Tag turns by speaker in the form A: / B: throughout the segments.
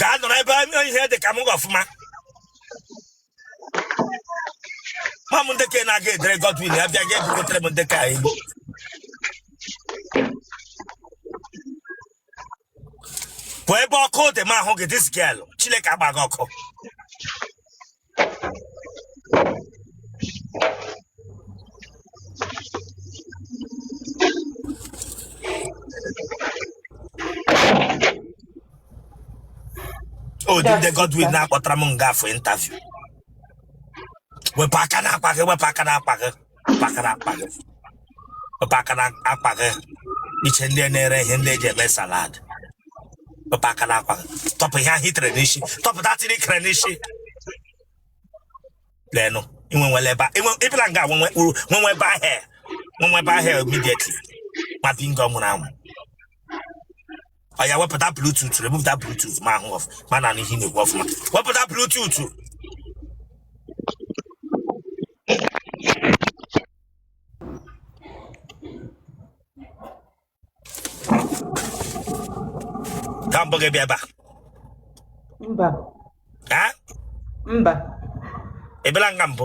A: gaa nọrọ ebe ihe dị ka m hụ gị ọfụma ma m ndị ka ị na-aga edere Godwin ya bịa ga ebugotere m ndị ka anyị pụọ ebe ọkụ dị m ahụ gị this girl chineke agba gị ọkụ ụdị ndị Godwin na-akpọtara m nga a for interview wepụ aka n'akpa gị wepụ aka n'akpa gị pakara akpa gị pakara akpa gị iche ndị na-ere ihe ndị eji eme salad pakara akpa gị tọpụ ihe ahụ i tere n'isi tọpụ head tie i kere n'isi leenụ inwe nwere ebe inwe ị bịala nga nwenwe uru nwenwe ebe ahịa nwenwe ebe ahịa immediately ma bingo nwụrụ anwụ oya wepụta bluetooth remụpụta bluetooth m ahụ ọf m anụ ihe ị na-ekwu ọfụma wepụta bluetooth ka mbụ gị bịa ebe a mba ha mba ị bịala nga mbụ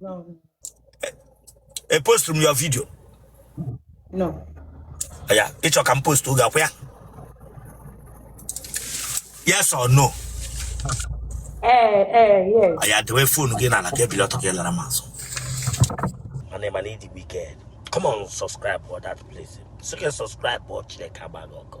A: No. E post m your video. No. Ya, ị chọ ka m post oge akwụ ya. Yes or no? Ee, ee, yes. Oya dewe phone gị n'ala ka ebili ọtọ gị lara m azụ. Mana ị ma na ị dị wicked. Come on, subscribe for that place. Sị ka subscribe for Chineke agba gị ọkụ.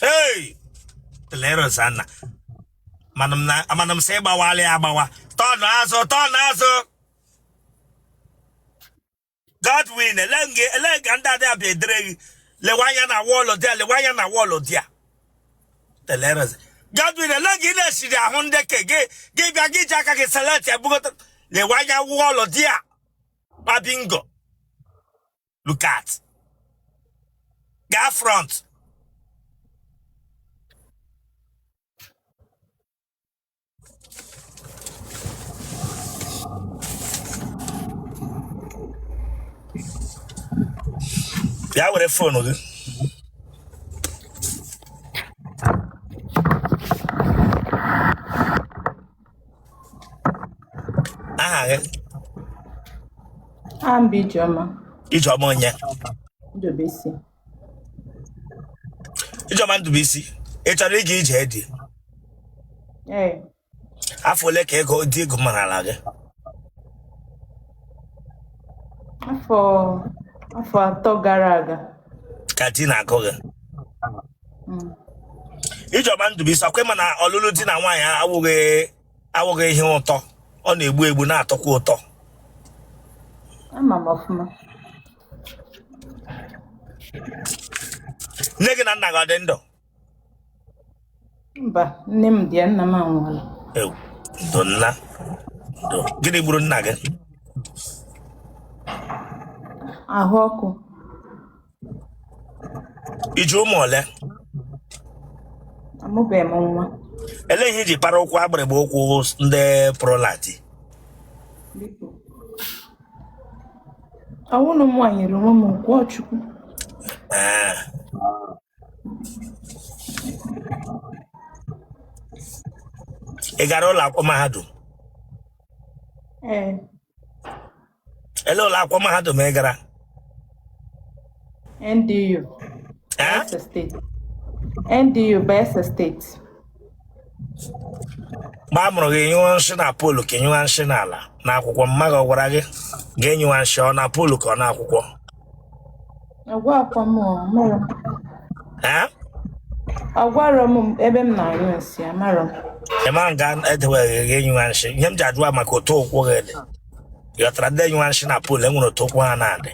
A: Hey! Leros Anna. Mana m na- mana m sị gbawala ya agbawa. Tọnụ azụ, tọnụ azụ. Godwin, ele nge- ele nga ndị adị abịa edere gị. Lewe anya na wall there, lewe anya na wall there. Teleros. Godwin, ele nga ị na-esiri ahụ ndị ke gị gị bịa gị ji aka gị select ya bugota. Lewe anya wall there. Ma bingo. look at gaa front bịa were phone gị aha gị aha m bụ Ijeọma Ijeọma onye Ndụbụisi Ijeọma Ndụbụisi ị chọrọ ịga ije di ee afọ ole ka agụụ di gụmarala gị afọ afọ atọ gara aga ka di na-agụ gị Ijeọma Ndụbụisi ọkwa ị ma na ọlụlụ di na nwaanyị awụghị awụghị ihe ụtọ ọ na-egbu egbu na-atọkwa ụtọ ama m ọfụma nne gị na nna gị ọ dị ndụ mba nne m dị ya nna m anwụọla Ewo, ndo nne ndo gịnị gburu nna gị ahụ ọkụ ị ji ụmụ ole amụbeghị m nwa ele ihe ị ji para ụkwụ agbịrịgba ụkwụ ndị prolati biko ọ wụrọ mụ nwa nyere onwe m ụkwụ ọ Chukwu ee ị gara ụlọ akwụkwọ mahadum ee ele ụlọ akwụkwọ mahadum ị gara NDU Eh? Bayelsa State NDU Bayelsa State mgbe a mụrụ gị ị nyụwa nsị na poolu ka ị nyụwa nsị n'ala na akwụkwọ mama gị ọ gwara gị nga ị nyụwa nsị ọ na poolu ka ọ na akwụkwọ ọ gwarọkwa m ọ mụrụ m Eh? ọ gwarọ m ebe m na-anyụ nsị amarọ m ị mara nga e dewere gị ị nyụwa nsị ihe m ji ajụ wụ maka otu ụkwụ gị dị ghọtara ndị enyụwa nshị na pol e nwere otu ụkwụ ha na-adị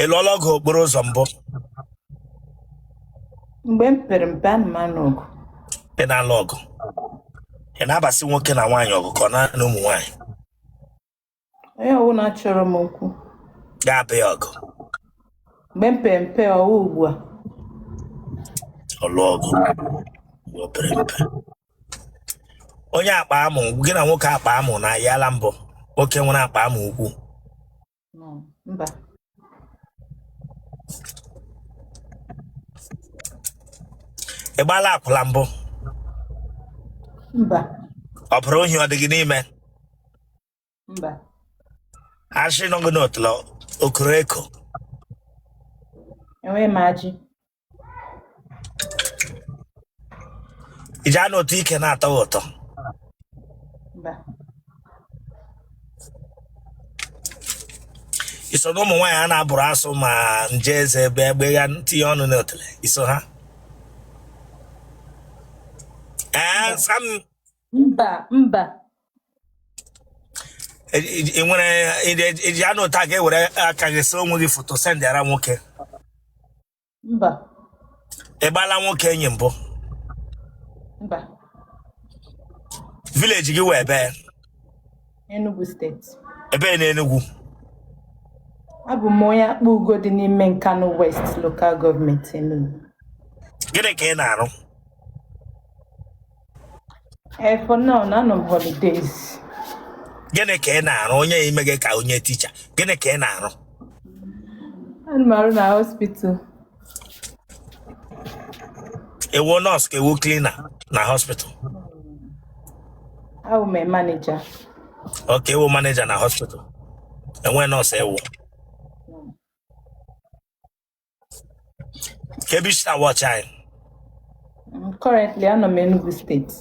A: ị lụọla ọgụ okporo ụzọ mbụ mgbe m pere mpe ana m anụ ọgụ ị na-alụ ọgụ ị na-abasị nwoke na nwaanyị ọgụ ka ọ naanị ụmụ nwaanyị onye ọbụla chọrọ m okwu ga-aba ya ọgụ mgbe m pere mpe ọ wụ ugbu a ọ lụọ ọgụ mgbe o pere mpe onye akpa amụ gị na nwoke akpa amụ na ayala mbụ nwoke nwere akpa amụ ukwu No, mba ị gbaala akwụla mbụ mba ọbụrụ ohi ọ dị gị n'ime mba ajị nọ gị n'otule okoreko enweghị m ajị iji anụ otu ike na-atọ gị ụtọ mba i so na ụmụ nwaanyị a na-agbụrụ asụ ma nje eze ebe egbe ya tinye ọnụ n'otule i so ha ee sam mba mba E- e- e nwere e- eji anọ ọtọ ka e were aka gị see onwe gị foto sendịara nwoke mba ị gbala nwoke enyi mbụ mba vileji gị wụ ebee Enugu steeti ebee n'Enugwu abụ m onye Akpugo dị n'ime Nkanu West lokal gọọmenti Enugu gịnị ka ị na-arụ Eh, for now, anọ m na holidays. gịnị ka ị na-arụ onye ime gị ka onye ticha gịnị ka ị na-arụ Ana m arụ na hospital. ị wụ nọọsụ ka ị wụ klina na hospital Abụ m a manager. okay ị wụ maneja na hospital ị wụ nọọsụ ewu kee ebe i si na-awọchị anyị Mm, Currently, anọ m Enugu steeti.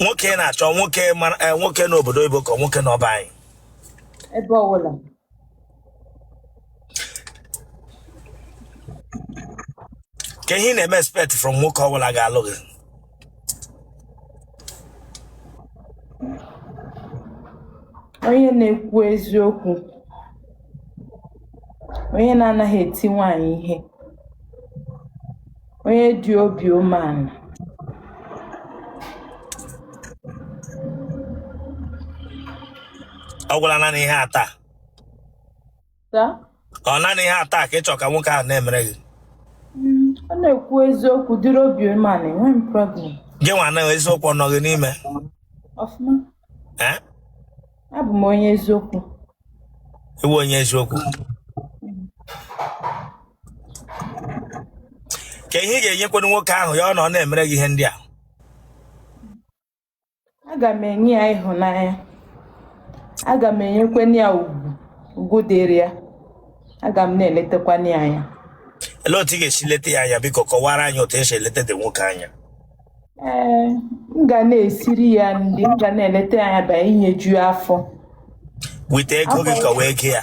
A: nwoke ị na-achọ nwoke mara eh, nwoke n'obodo oyibo ka nwoke nọ be anyị Ebe ọbụla. kee ihe ị na-eme expect from nwoke ọbụla ga-alụ gị Onye na-ekwu eziokwu, onye na-anaghị eti nwanyị ihe, onye dị obi umeala. Ọ gwụla naanị ihe atọ a. ọ naanị ihe atọ a ka ị chọ ka nwoke ahụ na-emere gị mm, ọ na-ekwu eziokwu dịrị obi umeala enwerọ m problem gị nwa na eziokwu ọ nọ gị n'ime ọfụma abụ m onye eziokwu ị wụ onye eziokwu kee ihe ị ga-enyekwanụ nwoke ahụ ya ọ na ọ na-emere gị ihe ndị a aga m enye ya ịhụnanya aga m enyekwana ya ugwu ugwu dịrị ya aga m na-eletakwana ya anya Olee otu ị ga-esi leta ya anya biko kọwara anyị otu esi eleta di nwoke anya. ee m ga na-esiri ya nri m ga na-eleta ya anya bịa enyeju ya afọ With ego gị ka ọ wụ ego ya.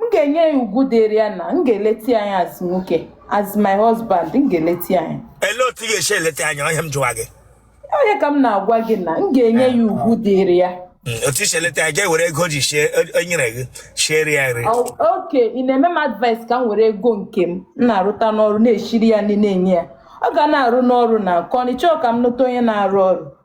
A: m ga-enye ya ugwu dịrị ya na m ga-eleta ya anya as nwoke as my husband m ga-eleta ya anya ele otu ị ga-esi eleta ya anya ọ ihe a m jụwa gị ọ nya ka m na-agwa gị na m ga-enye ya ugwu dịrị ya Mm, otu i si eleta ya ga-ewere ego o ji sie o nyere gị siere ya nri Ọ- okay ị na-eme m advice ka m were ego nke m m na-arụta n'ọrụ na-eshiri ya nri na-enye ya ọ ga na-arụ n'ọrụ na nke ọ n'ịchọ ka m nụta onye na-arụ ọrụ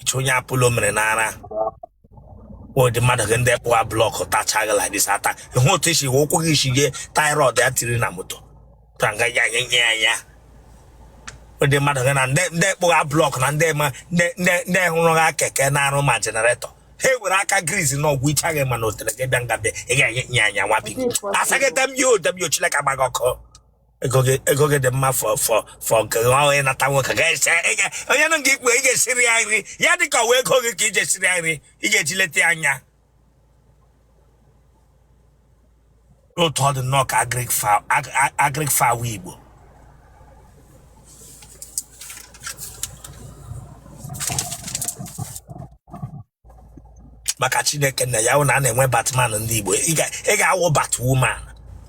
A: iche onye apollo mere n'ara ụdị mmadụ gị ndị kpụwa blọkụ tachaa gị like this ata ị hụ otu i si wee ụkwụ gị isi jee tie rod ya tiri na moto ka nga ya nye nye ya ya ụdị mmadụ gị na ndị ndị kpụwa blọkụ na ndị ma ndị ndị ndị hụrụ ha keke na-arụ ma jenaretọ ha were aka griz na ọgwụ ichaghị ma na otere gị bịa nga bịa ị ga-enye nye anya nwa bi asaghị damn you damn you chineke gbaa gị ọkụ ego gị ego gị dị mma fọ fọ fọ nke gị ọhụrụ ịnata nwoke ga ese ị ga- onye nụ nke ikpe ị ga-esiri ya nri ya dị ka ọ wụ ego gị ka ị ga-esiri ya nri ị ga-eji eleta ya anya otu ọ dị nnọọ ka agric fa- ag- ag- agric fowl igbo maka chineke na ya wụ na a na-enwe batman ndị igbo ị ga- ị ga-awụ batwoman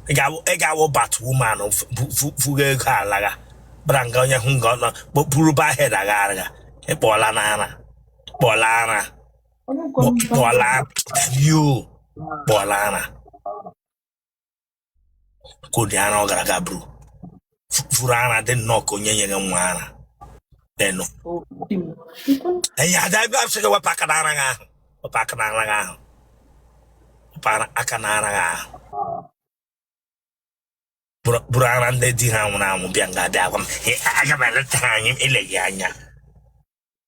A: ị ga-awụ- ị ga-awụ batwoman fu- fu- fu- fuga ego alagha bara nga onye hụ nga ọ nọ kpokpuru bahed agha agha ị kpọọla n'ara kpọọla ara kpọọla yo kpọọla ara ka ụdị ara ọ gara aga buru vuru ara dị nnọọ ka onye nyere nwa ara enu enyi ada ebe a sị gị wepụ aka n'ara gị ahụ wepụ aka n'ara gị ahụ wepụ ara- aka n'ara gị ahụ buru buru ara ndị di ha nwụrụ anwụ bịa nga bịa gwa m "Ee, aga m eleta ha anya eleghị anya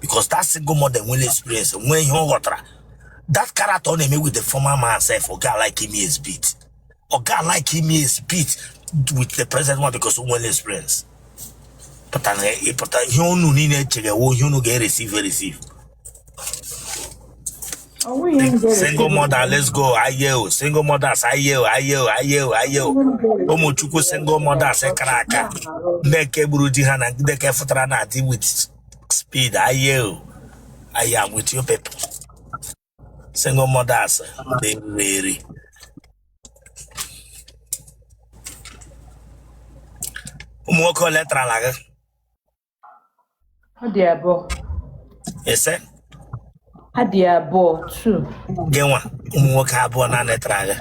A: because that single mother nwere experience nwee ihe ọ ghọtara that character ọ na-eme with the former man sef ọ ga like ime exhibit ọ ga like ime exhibit with the present one because o nwere experience pụtara ịpụta ihe unu niile chege wụ ihe unu ga-ereceive ereceive single mother let's go ayeo single mothers ayeo ayeo ayeo ayeo ụmụ chukwu single mothers kara aka ndị nke gburu di ha na ndị nke fụtara na di with speed ayeo I am with you people single mothers di riri eri ụmụ nwoke ole tarala gị Ọ dị abụọ. ese Ọ dị abụọ. Two. gị nwa ụmụ nwoke abụọ na-anetara agha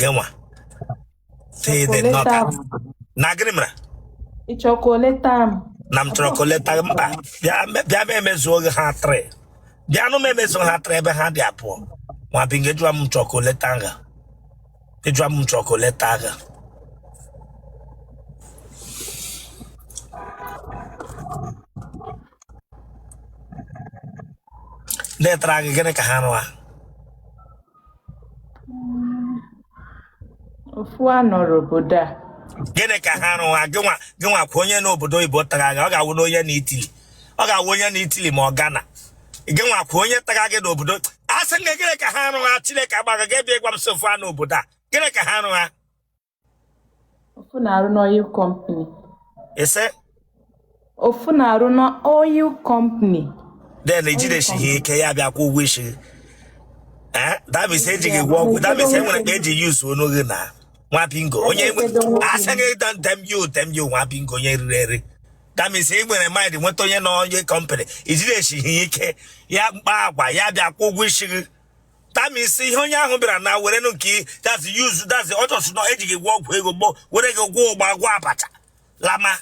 A: gị nwa Tee the Ọkọleta nọta. m. na gịnị mere Ị chọrọ ka o leta m? na m chọrọ ka o leta gị mba bịa me- bịa m emezuo gị ha three bịanụ m emezuo ha three ebe ha dị abụọ nwa bịa nga jụwa m chọrọ ka o leta nga ịjụa m chọkụ leta agha letara gị gịnị ka ha rụa ofu a nọrọ obodo a gịnị ka ha rụwa gịnwa gịnwa kwa onye n'obodo oyibo tara gị ọ ga-awụ na onye nọ Italy ọ ga-awụ onye nọ Italy ma ọ gana gị nwa kwuo onye taga gị n'obodo a sị gị gịnị ka ha arụ ha chineke agbaga gị bịa gwa m sị ofu ha nọ obodo a gịnị ka ha arụ ha ofu na-arụ n'oil company ị sị ofu na-arụ n'oil company then i jidesighị ike ya bịa kwụọ ụgwọ isi gị Eh, that means eji gị gwọọ ọgwụ that means enwere ka eji use onu gị na nwa bingo onye asị gị dan dem you dem you nwa bingo onye eriri eri that means ị nwere mind nweta onye nọ oil company i jidesighị ike ya kpaa agwa ya bịa kwụọ ụgwọ isi gị that means ihe onye ahụ bịara na were nụ nke that's use that's ọ chọsụ na eji gị gwọọ ọgwụ ego gboo were gị gwọọ ụgba gwọọ abacha lama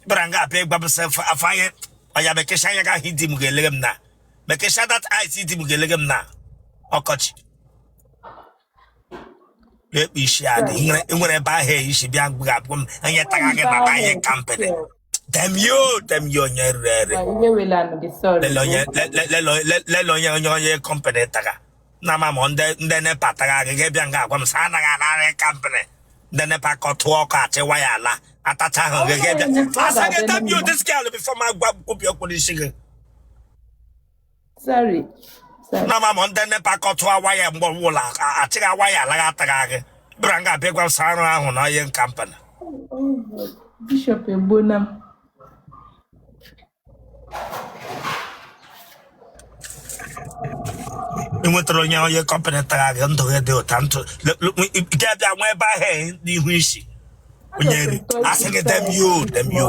A: bịara nga abịa ịgbabụsa afọ anya ọya mekesha anya gị ahụ di m ga-elege m na mekesha that eyes di m ga-elege m na ọkọchị ekpe isi adị Right. nwere nwere ebe ahụ ayị si bịa mgbe abụọ m onye taga gị baba ihe kampịrị demio demio onye rere ere Ma ihe wela nụ gị sorry. lele onye le- le- lele onye- le- lele onye onye oil company taga na ma ma ndị ndị nepa taga gị gị bịa nga agwa m sị anaghị anarị kampịrị ndị nepa kọtụọ ọkụ achị waya ala atacha ahụ gị gị bịa asa gị demio diskel before ma gwa kwubi okwu n'isi gị sorry sorry na ma ma ndị nepa kọtụọ waya mgbe ọbụla a- achịghị waya alaghị ataghị agị bịara nga abịa gwa sarụ ahụ na ihe nkampani Oh, God. bishop egbona m ị nwetara onye oil company tara gị ndụ gị dị ụta ntụ Le- le- nwe- ị- ị abịa nwa ebe ahụ n'ihu isi onye nri asị gị dem yo dem yo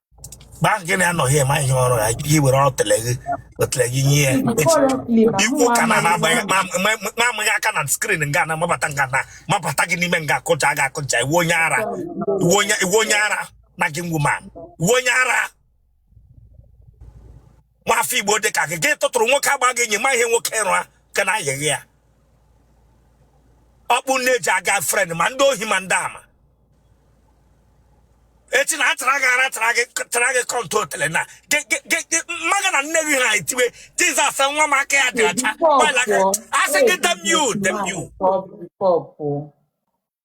A: mgbe ahụ gị na ya nọghị eme ihe ọrụ ya gị were otele gị otele gị nye ya echi Currently, ma i kwuo ụka na mụ ama gị ma ama gị aka na screen nga na mabata nga na mabata gị n'ime nga akụja gị akụja ị wụ onye ara ị wụ onye ị wụ onye ara na gị ngwuma ị wụ onye ara nwa afọ igbo dị ka gị ga ịtụtụrụ nwoke agba gị enyi ma ihe nwoke rụa ka na ayịghị ya ọkpụ na-eji aga friend ma ndị ohi ma ndị ama echi na atara gị ara tara gị tara gị kọntụ otele na gị- gị- gị- gị- mmadụ na nne gị ha etiwe jizọs nwa m aka ya dị ọcha Before nwaanyị aka poor, asị gị dem you dem you before before poor.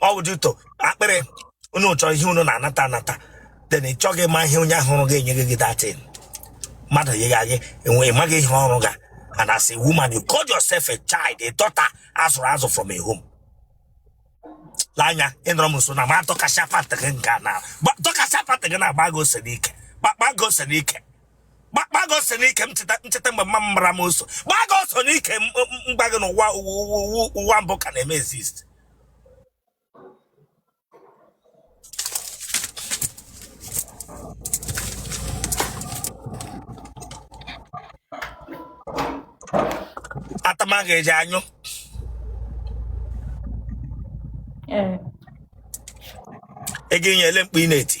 A: ọ bụ dito akpịrị unu chọọ ihe unu na-anata anata then ị chọghị ịma ihe onye ahụ rụga enye gị gị dating mmadụ yigha gị enwe ịmaghị ihe ọ rụga and as a woman you call yourself a child a daughter azụrụ azụ from a home lee anya ịnọrọ m nso na ma tọkasị apatị gị nke a na gba- tọkasị apatị gị na-agba gị ose n'ike gbagba gị ose n'ike gbagba gị ose n'ike m cheta ncheta mgbe mma m mara m oso gbaa gị ose n'ike m- m- m gwa gị na ụwa ụwa- ụwa- ụwa mbụ ka na-eme exist atama ga-eji anyụ ego inye ele mkpu ị na-eti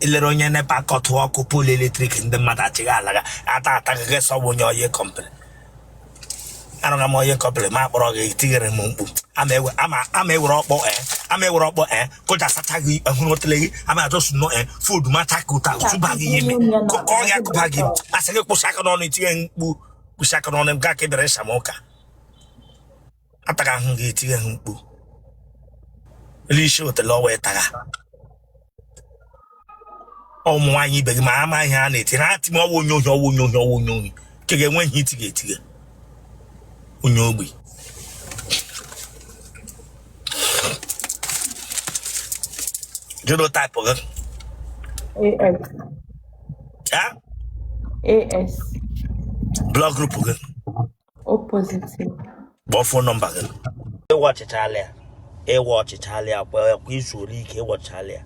A: elere onye NEPA kọtụ ọkụ pole electric ndị mmadụ achịghị alaga ata ataghị sọbụ onye ohi complain arụghị m onye complain akpọrọ gị tinyere m mkpu ama ewere ọkpọ e ama ewere ọkpọ e kụja sacha gị ehụrụ otele gị ama ajọsụ nọ e fud mata ka ụta tụba gị ime kụkọ ya kụba gị asị gị kwụsị aka n'ọnụ itinye mkpu kwụsị aka n'ọnụ m gaa ka ebere ịsa m ụka ataga ahụ gị etighe ha mkpu elu isi otele ọwa ịtaga ụmụ nwaanyị ibe gị ma ama ihe a na-eti ha ati m ọwa onye ohi ọwa onye ohi ọwa onye ohi nke ga-enwe ihe itighe etighe onye ogbi genotype gị AS. ya AS. blood group gị O positive. Kpọọ fon nọmba gị. Ị watchịchaala ya. Ị watchịchaala ya kwa kwa izuru ike ị watchịchaala ya.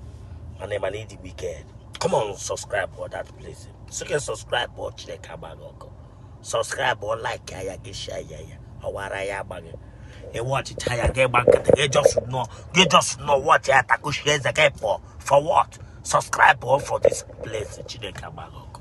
A: Mana ịma na ịdị wicked. Come on, subscribe for that place. So can subscribe before Chineke agbaa gị ọkụ. Subscribe for like ya gị share ya ya. Ọwara ya agbaghị. Ị watchịchaa ya gị gba nkịtị gị just nọ gị just nọ watch ya takushi eze gị for for what? Subscribe for this place Chineke agbaa gị ọkụ.